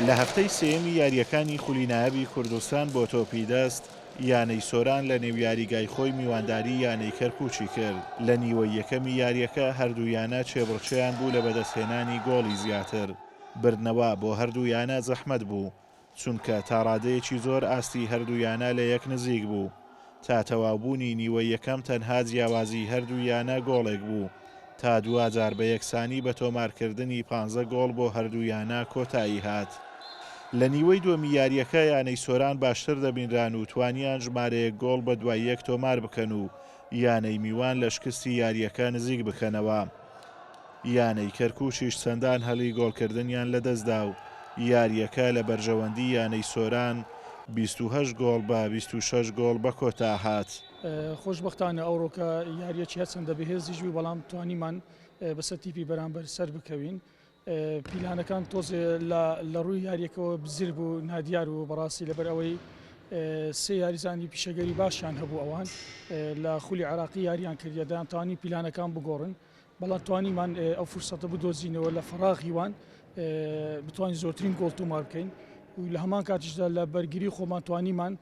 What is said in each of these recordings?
لە هەفتەی سێیەمی یارییەکانی خولی نایابی کوردستان بۆ تۆپی دەست، یانەی سۆران لە نێو یاریگای خۆی میوانداری یانەی کەرکوکی کرد، لە نیوەی یەکەمی یارییەکە هەردوو یانە چێبڕکێیان بوو لە بەدەستهێنانی گۆڵی زیاتر، بردنەوە بۆ هەردوو یانە زەحمەت بوو، چونکە تا ڕادەیەکی زۆر ئاستی هەردوویانە لە یەک نزیک بوو، تا تەواوبوونی نیوەی یەکەم تەنها جیاوازی هەردوو یانە گۆڵێک بوو، تا دواجار بە یەکسانی بە تۆمارکردنی پانزە گۆڵ بۆ هەردوو یانە کۆتایی هات. لە نیوەی دووەمی یارییەکە یانەی سۆران باشتر دەبینران و توانیان ژمارەیەک گۆڵ بە دوای یەک تۆمار بکەن و یانەی میوان لە شکستی یارییەکە نزیک بکەنەوە. یانەی کەرکوکیش چەندان هەلی گۆڵکردنیان لەدەستدا و یارییەکە لە بەرژەوەندی یانەی سۆران بیست و هەشت گۆڵ بە بیست و شەش گۆڵ بەکۆتاهات. خۆشبەختانە ئەوڕۆکە یارییەکی هەرچەندە بەهێزیش بوو، بەڵام توانیمان بەسەر تیپی بەرامبەر سەربکەوین. پیلانەکان تۆزێ لەڕووی یارییەکەوە بزر بوو، نادیار بوو بەڕاستی لەبەر ئەوەی سێ یاریزانی پیشەگەری باشیان هەبوو ئەوان لە خولی عێراقی یارییان کردیە دەیانتوانی پیلانەکان بگۆڕن. بەڵام توانیمان ئەو فرسەتە بدۆزینەوە لە فەراغی وان بتوانین زۆرترین گۆڵ تۆمار بکەین و لە هەمان کاتیشدا لە بەرگری خۆمان توانیمان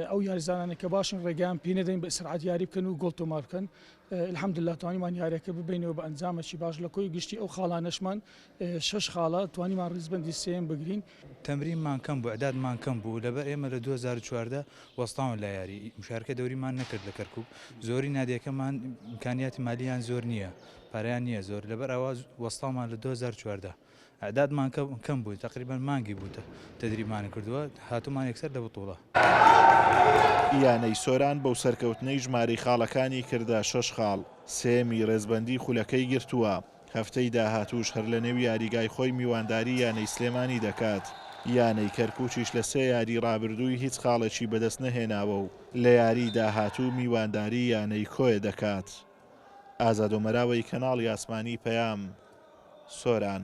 ئەو یاریزانانە کە باشن ڕێگەیان پێ نەدەین بە سرعات یاری بکەن و گۆڵ تۆمار بکەن الحمدلله توانیمان یارەکە ببینەوە بە ئەنجامەکی باش لە کۆی گشتی ئەو خاڵانەشمان شش خاڵە توانیمان ڕیزبندی سێم بگرین تەمرینمان کەم بوو، عدادمان کەم بوو، لەبەر ئێمە لە دوو هەزار و چواردە وەستاون لە یاری، مشارکە دەوریمان نەکرد لە کەرکوک، زۆری نادیەکەمان ئیمکانیاتی مالیان زۆر نییە، پارەیان نییە زۆر، لەبەر ئەوە وەستاومان لە دوو هەزار و چواردە، عدادمان کەم بوو، تەقریبەن مانگی بوو تەدریبمان کردووە، هاتوومان یەکسەر لە بتوڵە. یانەی سۆران بەو سەرکەوتنەی ژمارەی خاڵەکانی کردە شەش خاڵ، سێیەمی رێزبەندیی خولەکەی گرتووە. هەفتەی داهاتووش هەر لەنێو یاریگای خۆی میوانداری یانەی سلێمانی دەکات، یانەی کەرکوکیش لە سێ یاری رابردووی هیچ خاڵێکی بەدەست نەهێناوە و لە یاری داهاتوو میوانداری یانەی کۆیە دەکات. ئازادۆ مەراوەی کەناڵی ئاسمانی پەیام، سۆران.